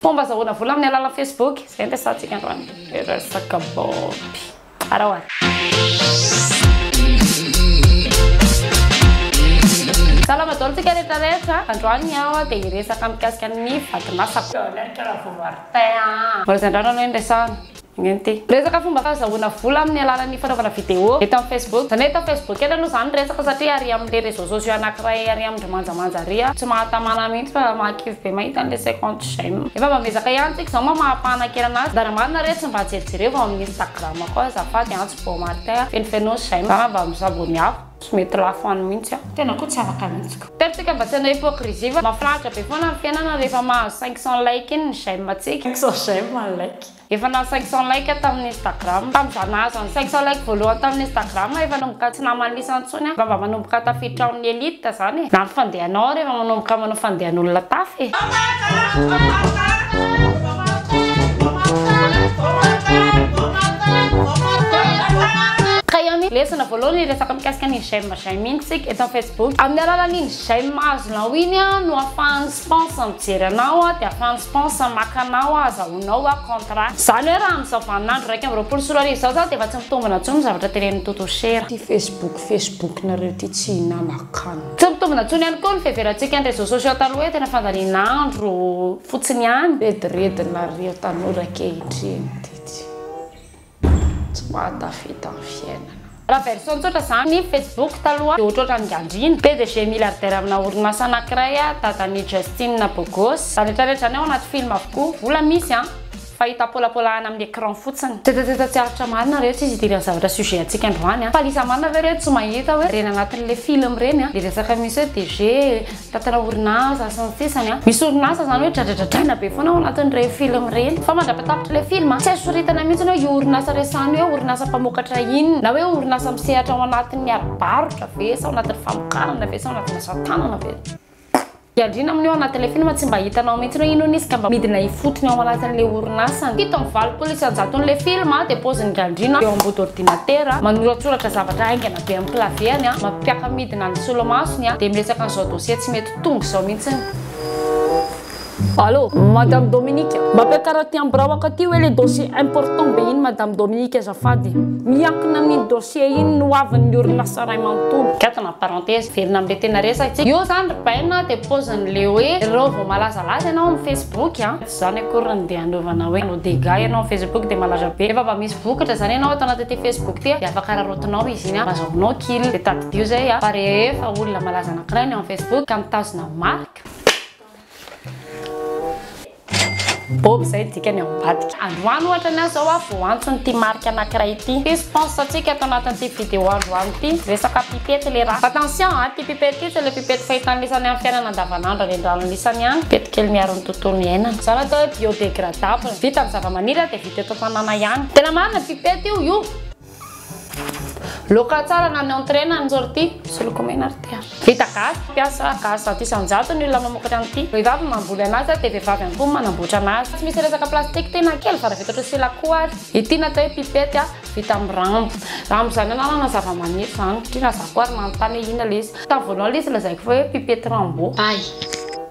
Mpomba azahoana vola amin'ny alalan'ny Facebook, izay ampiasantsika androany resaka baoty. Ara ho Salama daholo tsika rehetra rehetra. Androany aho dia hiresaka mikasika ny vakin'asako. Mbola tsy andrano aloha ny resahana. Ingainty. Resaka fomba fahazahoana vola amin'ny alalan'ny fanaovana vidéo eto amin'ny Facebook. Izany hoe eto amin'ny Facebook eto aloha izany ny resaka satria ary amin'ilay réseaux sociaux anankiray ary amin-dry manjamanja ary aho tsy mahatamana mihitsy fa mahakivy be mahita an'ilay cinquante j'aime. Efa mba miezaka ihany tsika izao mamaha ampahanankerana azy. Anjara marina re tsy mba jerijereo vao amin'ny Instagram ko azafady an tsy vao Martin a. Fenofeno j'aime za mba mi s'abonner aho. Tsy mety lafo any mihitsy aho. Tena koa tsy afaka mihitsy ko. Teto tsika mba tsy hanao hypocrisie fa mafinaritra be foana ny fiainana rehefa mahazo cinq cents like iny ny j'aime tsika. Cinq cents j'aime ny like. Efa nahazo cinq cent like tamin'ny Instagram tamin'izaho nahazo an'i cinq cent like voalohany tamin'ny Instagram efa nanomboka tsy naman'ny lisany intsony aho ngamba manomboka tafiditra ao amin'ny elite izany e! na ny fandehanao ary efa manomboka manao fandehan'olona tafa e! Ka ihany lesona voalohany hiresaka mikasika ny j'aime j'aime iny isika eto amin'ny facebook, amin'ny alalan'iny j'aime azonao iny no ahafahan'ny Pense mijery anao aho dia fans Pense maka anao aho azahoanao aho contrat. Zany hoe raha amin'izao vanin'andro iraika amby roapolo sy roa arivo izao za dia efa tsy mitombina intsony ny zavatra tenenin'i Toto Cher. Ty Facebook Facebook nareo ty tsy hinana kan. Tsy mitombina intsony ihany koa ny fiheverantsika ny réseaux sociaux taloha hoe tena fandanian'andro fotsiny ihany. Rediredy nareo tanora ankehitriny ty tsy. Tsy mahatafita ny fiainana. Raha version tsotra zany ny facebook taloha de ohatrohatran'ny gandrina. Pdg milliardaire amina orinasa anakiray a dadan'i Justinne Bogos. Zaretraretra zany ao anaty film avokoa. Vola misy an! Fa hita polapolahana amin'ny écran fotsiny. Tetateta tsy aritra marina re tsy izy idiran'ny zavatra sujet antsika androany an! Fa lisa marina ve re tsy mahita hoe reny anatin'le film reny an! Le resaka misy hoe DG, Tantara orinasa sy ny sisa ny misy orinasa zany hoe dradradradraina be foana ao anatin'ireny film ireny fa mandra-patapitra ilay film tsy azo soritana mihitsy hoe io orinasa resahany hoe orinasa mpamokatra inona na hoe orinasa misehatra ao anatin'ny ara-barotra ve sa ao anatin'ny famokarana ve sa ao anatin'ny asa tanana ve Andriana amin'io anatin'ilay film tsy mba hitanao mihitsy hoe inona izy ka mba midina ifotony ao anatin'ilay orinasany. Fito amby valopolo isanjaton'ilay film dia paozin'Ingahy Andriana eo ambody ordinatera manoratsoratra zavatra haingana. Dia ampilavihany an, mampiaka-midina ny solomasony an, dia miresaka an'izao dossier tsy mety tonga izao mihitsy ny. Allô, Madame Dominique, mba ampiakaro aty amin'ny biraoko aty hoe le dossier important be iny Madame Dominique azafady. Miankina amin'iny dossier iny ny hoavin'ny orinasa iray manontolo. Gadona parenthèse velona amin'ilay tena resaka. Io izany ry Baina dia paozin'ilay hoe ireo vao malazalaza ianao amin'ny Facebook an. Zany akory no dia hanaovana hoe no dega ianao amin'ny facebook dia malaza be fa mba misy vokatra zany ianao ato anatin'ity facebook ity dia afaka araraotinao izy iny mba azahoanao kil dia tadidio zay fa rehefa olona malaza anankiray ny ao amin'ny facebook ka mitazona marika bob zay dikany ao ambadika androany ohatra ny azy zao a vao antony ity marika anankiray ity ity sponsor antsika ato anatin'ity video androany ity resaka pipety le raha attention a ity pipety ity tsy le pipety fahitan'isany amin'ny fiainana andavanandro any an-drano isany any Kely miaro ny tontolo iainana. Zara atao hoe biodegradable. Vita amin'ny zavamaniry dia vita eto an-tanàna ihany. Tena marina ity pety io io. Loka tsara na ny entrée na ny sortie. Soloko mena ry tia. Vita gasy, mpiasa gasy zato isan-jato ny olona mamokatra an'ity. Vehivavy no mamboly anazy dia vehivavy ihany koa no manamboatra anazy. Tsy misy resaka plastique ity na kely fa raha vita ohatry ny silakoha ary. Ity no atao hoe pipety vita amin'ny rambo. Rambo izany anarana zavamaniry izany satria na za koa ary manontany hoe inona ilay izy. Tamin'ny voalohany ilay izy lazaiko fa hoe pipety rambo. Ay.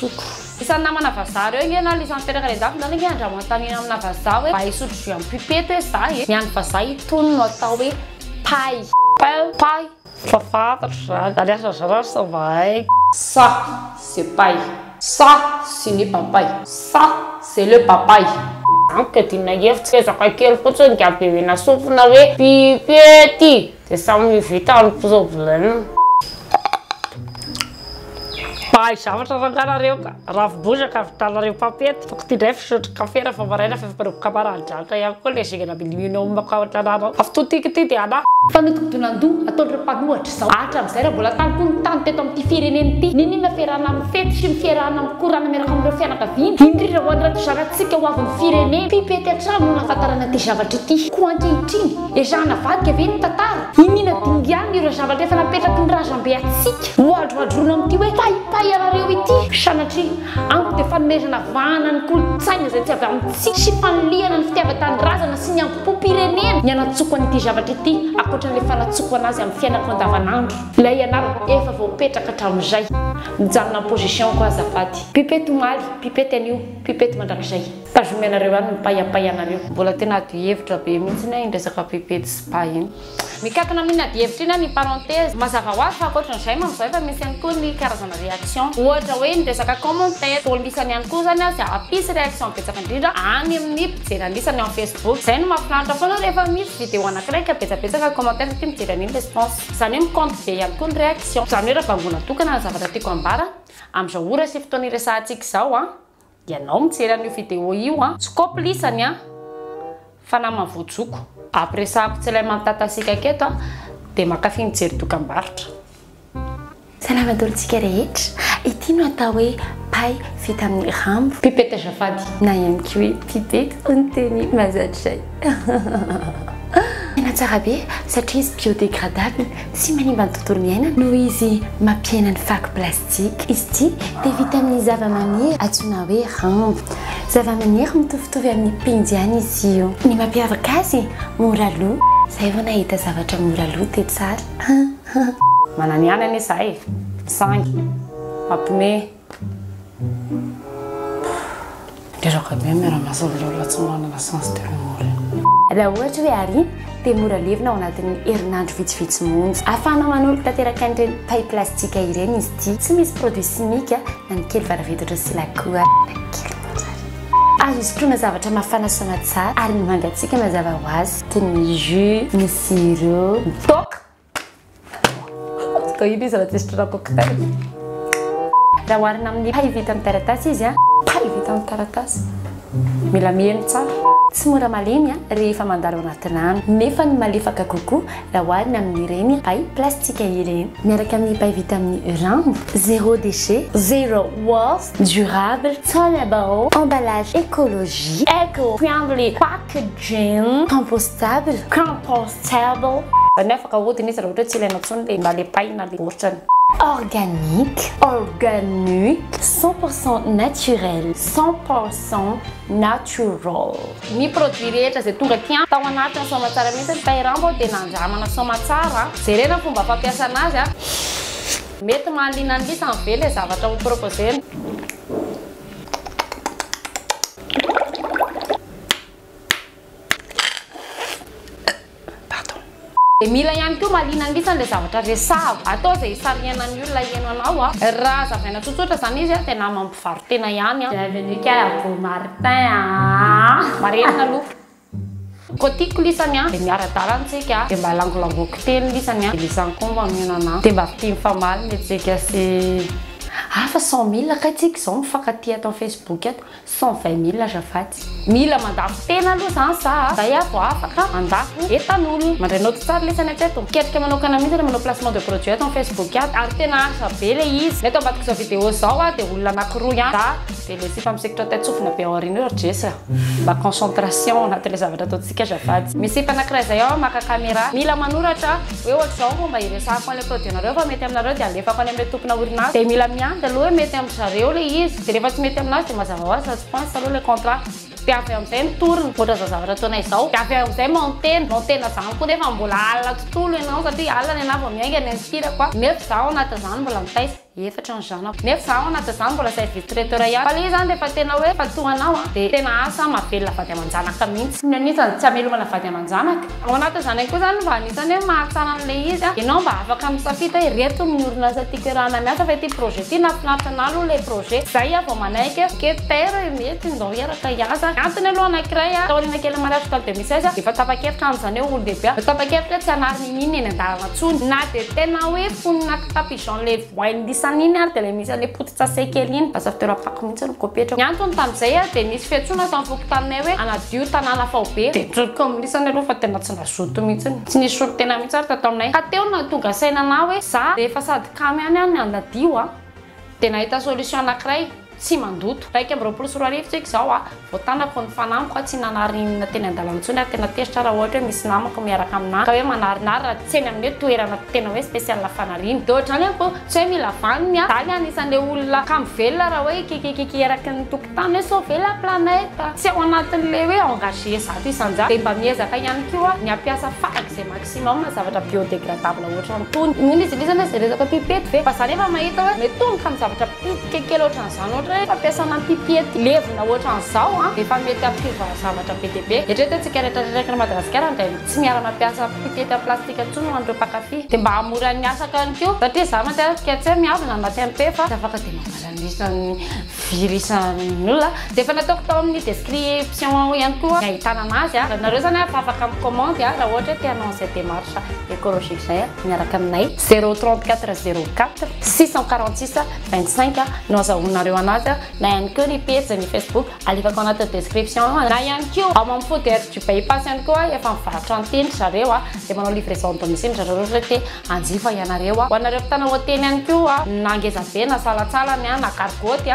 zoko. Isan'ny namana vazaha reo nge na lisany teraka any andafy zany nge andramo antanina amina vazaha hoe mba hisotro jus am pipette hoe za e. Ny any vazaha itony no atao hoe pay. Pay pay efa fantatro zany ary asa zara asa mba haiko. Ça c'est pay. Ça c'est ny papay. Ça c'est le papay. Amiko adinona hevitra ezaka kely fotsiny dia be mena sofina hoe pipety dia samy vita ny problème. Mpahay zavatra rangah nareo ka! Rafy bozaka avitanareo mpampety, tokony ity ndray fisotro kafe rehefa maraina fa efa mpanao kabary any Jaka ihany koa le zingana milimiona ao mako ao an-tanàna ao. Avy to tiako ity dia anah! Fanodinkodinan-doha ataon'ireo mpanohatra izao. Hatramin'izay raha mbola tany koa ny tany teto amin'ity firenena ity, n'inon'inona fierahana amin'ny fety sy ny fierahana amin'ny korana miaraka amin'ireo fianakaviana, indrindra ho an'irato zanak'tsika ho avin'ny firenena. Pipety hatrany no nahafantarana ity zavatra ity. Koa ankehitriny. Ezahana avadika ve ny tantara? Iniana dingana ireo zavatra efa napetraky ny razambe antsika. Hohadrohadroina amin'ity hoe paypay anareo ity. Sanatria, amiko dia fanomezana vahana ny kolontsaina izay tsy avy amintsika sy fanilihana ny fitiavan-tanindrazana sy ny hambom-pom-pirenena ny hanatsoko an'ity zavatra ity ankoatran'ilay fanatsoko anazy amin'ny fiainako andavanandro. Ilay anarako efa voapetraka hatramin'izay. Mijanona amin'ny position-ko azafady. Pipette omaly, pipette anio, pipette mandrakizay. Tazomy anareo any ny paiapaia anareo. Mbola tena ady hevitra be mihitsy anie iny resaka pipety sy ba iny. Mikatona amin ady hevitra iny ny parenthèse. Mazava ho azy fa ankoatran izay manao izay efa misy ihany koa ny karazana réaction. Ohatra hoe ny resaka commentaire. Toa lisany ihany koa izany izay hampisy réaction betsaka indrindra any amin ny mpijery anisa ny ao facebook. Izay no mahafinaritra foana rehefa misy vidéo anakiray ka betsabetsaka ny commentaire satria mijery an iny le spons. Izany hoe mi compte be ihany koa ny réaction. Izany hoe raha bangoina tokana ny zavatra tiako hambara amin izao ora sy fotoana iresahantsika izao an. Ianao mijery an'io vidéo io an! Tsikopo lisany an! Fa namany voajoko. Ampiresahako tsy ilay mantatasika aketo an! Dia mankafy mijery dokambarotra. Salama dolo tsika rehetra. Ity no atao hoe pay vita amin'ny rambo. Pipette azafady. Na ihany koa hoe pipette hoy ny teny mahazatra izay. Tena tsara be satria izy biodégradable, tsy manimba ny tontolo iainana noho izy mampiaina ny fako plastika. Izy ity dia vita amin'ny zavamaniry antsoina hoe rambo. Zavamaniry mitovitovy amin'ny penjy ihany izy io. Ny mampiavaka azy, mora lo. Izay vao nahita zavatra mora lo dia tsara. Manana ihany anie izahay e. Misangy. Mampiomehy. Reraka be ny miara-miasa amin'ny olona tsy manana sens de l'humour. Raha ohatra hoe Ary dia mora levona ao anatin'ny herinandro vitsivitsy monja. Ahafahana manorika tanteraka an'ireny paille plastique ireny izy ity. Tsy misy produit chimique na ny kely varavedatra sy la koa na kely monja ary. Azo sotroina zavatra mafana soamatsara ary ny mangatsiaka mazava ho azy toy ny jus, ny sirop, ny toaka. Atao ino izy raha tsisy tranom-pokotany? Raha oharina amin'ny pay vita amin'ny taratasy izy an. Pay vita amin'ny taratasy. Mila miheno tsara. Tsy mora malemy an rehefa mandalo anaty rano. Nefa ny malefaka kokoa raha oharina amin'ireny pay plastika ireny. Miaraka amin'ny pay vita amin'ny rambo. Zero déchet. Zero waste. Durable. Tsara baoo. Emballage écologie. Eco friendly. Packaging. Compostable. Compostable. Terrible. Zany hoe afaka ahodina izy raha ohatra hoe tsy ilaina intsony le na le paille na le baoritrany. Organique, organique, cent pour cent naturel, cent pour cent natural. Ny produit rehetra izay tonga aty an, tao anatin'ny soamatsara mihitsy ny paille ramba aho dia nandramana soamatsara, jerena ny fomba fampiasana azy an. Mety mahaliana ny lisany ve le zavatra ho proposer-na? Dia mila ihany koa mahaliana angisa an'ilay zavatra resahako. Atao izay hisarihanan'ny olona hihaino anao. Ah. Raha hazavaina tsotsotra izany izy, dia nama mpivaro-tena ihany. Ah. Bienvenue kay à vous Martin ah. Marenina aloha. Koa tiako lisany ah. Dia miara-dalana tsika ah. Dia mba langolangoiko teny lisany ah. Lisany koa mba mionana ah. Dia mba fitia mifamaly ny antsika sy. Ah fa cent mille kay tsika izao mifankatia ato amin'ny Facebook ato. Cent vingt mille azafady. Mila mandako tena aloha zany za a! Zay aho vao afaka mandako entan'olona. Mandray naoty tsara lesy any an-tseto. Miketrika manokana mihitsy ilay manao placement de produit ato amin'ny facebook ato. Ary tena asa be ilay izy. Ny ato ambadik'izao vidéo izao a dia olona anankiroa ihany. Za dia ilay sipa misikitra teo an-tsofina be ao aoriana eo ry Jess a! Mba concentration ao anatin'ilay zavatra ataontsika azafady. Misy sipa anankiray izay ao maka camera. Mila manoratra. hoe ohatr'izao ny fomba hiresahako an'ilay produit anareo fa mety aminareo dia alefako any amin'ilay tompona orinasa dia mila miandry aloha hoe mety amin-dry zareo ilay izy dia rehefa tsy mety amin'azy dia mazava ho azy fa tsy pince aloha ilay contrat dia avy amin'izay ny tourne ohatra izao zavatra ataonay izao dia avy eo amin'izay maontena maontena izany koa nefa mbola alina tontolo ianao satria alina ny anah vao miainga ny ankirako a nefa izaho anatin'izany mbola mitaisa efatra ny zanako nefa zaho anaty izany mbola izay vice traiteur ihany fa le izy zany rehefa tena hoe fa toa anao an dia tena asa mahavelona vady aman-janaka mihitsy tsy mihamitsy ny tsy hamelomana vady aman-janaka ao anaty izany ihany koa izany mba anisany hoe mahatsara an'ilay izy an ianao mba afaka misafidy hoe ireto ny orinasa tiako iarahana miasa fa ity projet ity nahafinaritra anah aloha ilay projet izay aho vao manaiky hoe ok Père mety ndao hiaraka hiasa ny antony aloha anankiray an taoriana kelin'ny mariage tamin'ny deux mille seize dia efa tapa-kevitra aho amin'izany hoe olon-dehibe aho dia tapa-kevitra hoe tsy hanary n'inon'inona eny an-dalana intsony na dia tena hoe mponina Fa pigeon le voainy lisany iny ary dia ilay misy an'ilay potin-tsase kely iny, basaviteur fako mihitsy no kopetrako. Ny antony tamin'izay ary dia nisy fiantsoana tao amin'ny fokontaninay hoe hanadio tanàna faobe. Dia nijoroka eo amin'ny lisany aloha fa tena tsy nazoto mihitsy. Tsy nisy solontena mihitsy ary tato aminay. Ka teo no nahatonga saina anà hoe za rehefa sady kamo ihany aho ny hanadio dia nahita solution anankiray. tsy mandoto. Iraika amby roapolo sy roa arivo tsika izao a, vao tanako ny fanamiko a, tsy nanarinina teny an-dalana intsony ary tena tezitra raha ohatra hoe misy namako miaraka aminà ka hoe manarinary raha tsy eny amin'ny hoe toerana tena hoe spécial fanariana. Dia ohatr'izany aho koa, tsy hoe mila vaniny a, daly anisan'ilay olona kamo velona raha hoe hikikikiki eraky ny tokontany hoe sauver la planète, tsy ao anatin'ilay hoe engagé zato isan-jato, dia mba miezaka ihany koa ny hampiasa farak'izay maximum zavatra biodégradable ohatr'antony. Inoana izy iny zany hoe zay resaka pipety ve? Fa za nefa mahita hoe mety ho ny ka ny zavatra. Critique kely ohatran'izany ohatra hoe fampiasana pipety levona ohatran'izao an, efa mety hampiova zavatra be dia be. Eritrereto antsika rehetra reraky ny Madagasikara indray no tsy miala mampiasa pipety en plastique intsony ho an'ireo mpankafy. Dia mba hahamora ny asako ihany koa satria za mandeha ary ka tsy hoe miavona na maty am-peo fa tsy afaka dia manala ny isan'ny virus an'olona. Dia efa nataoko tao amin'ny description ao ihany koa ny ahitana anazy an. Nareo izany an efa afaka mikomandy an raha ohatra hoe te hanao an'izay démarche écologique izay an. Miaraka aminay, 034 04 646 25 no azahoanareo anazy, na ihany koa ny pejy ny Facebook alefako anaty description eo, na ihany koa ao amin'ny food air du by pass ihany koa efa mivarotra ny teny ry zareo, dia manao livraison à domicile ry zareo raha ohatra te hanjifa ianareo, ho anareo mpitana hotely ihany koa na ngezabe na salatsalany na gargotte.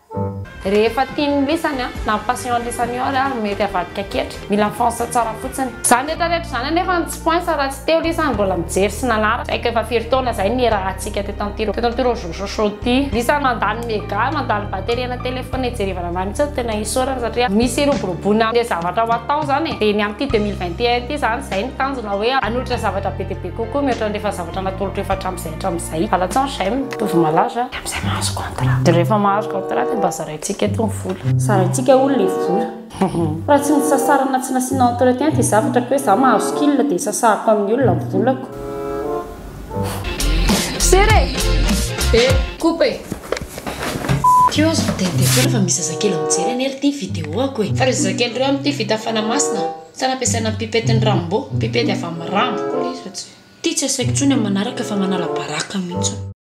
Rehefa tian'ny lisany na ny passion'ny lisany io ary ary mety avadika ketra. Mila fans tsara fotsiny. Izany rehetra rehetra izany anefa no tsy poinsa raha tsy teo lisany mbola mijery sy nanaraka. Saika efa firy taona izay nihirahantsika teto an'ity teto an'ity rojojo show ity. Lisany mandany mega, mandany batterie ana telephone hijerevana anah mihitsy no tena isaorana satria misy hiroboroboana le zavatra ho atao zany e. Dia ny amin'ity deux mille vingt et un ity zany izay ny tanjona hoe hanolotra zavatra be dia be kokoa mihoatra ny rehefa zavatra natolotro efa hatramin'izay hatramin'izay. Vala tson j'aime, mitovy malaza. Izay mahazo contrat. Dia rehefa mahazo contrat dia mba zaraintsika eto ny vola. Zaraintsika hono ilay vola. Raha tsy nisasarana tsy nasiana entretien ity zavatra ka hoe za mahazo skill dia sasahako amin'ny olona ny volako. Serra e! E, coupe e! Teo aho zao teny dia foana fa misy zazakely mijery anie ry ty video-ako e! Fa ry zazakely ireo amin'ity vita fanamasina sa nampiasaina ny pipette-n'ny Rambo? Pipette avy amin'ny Rambo koa ilay izy fa tsy. Ty tsy asaiko intsony amin'ny manaraka fa manala baraka mihitsy.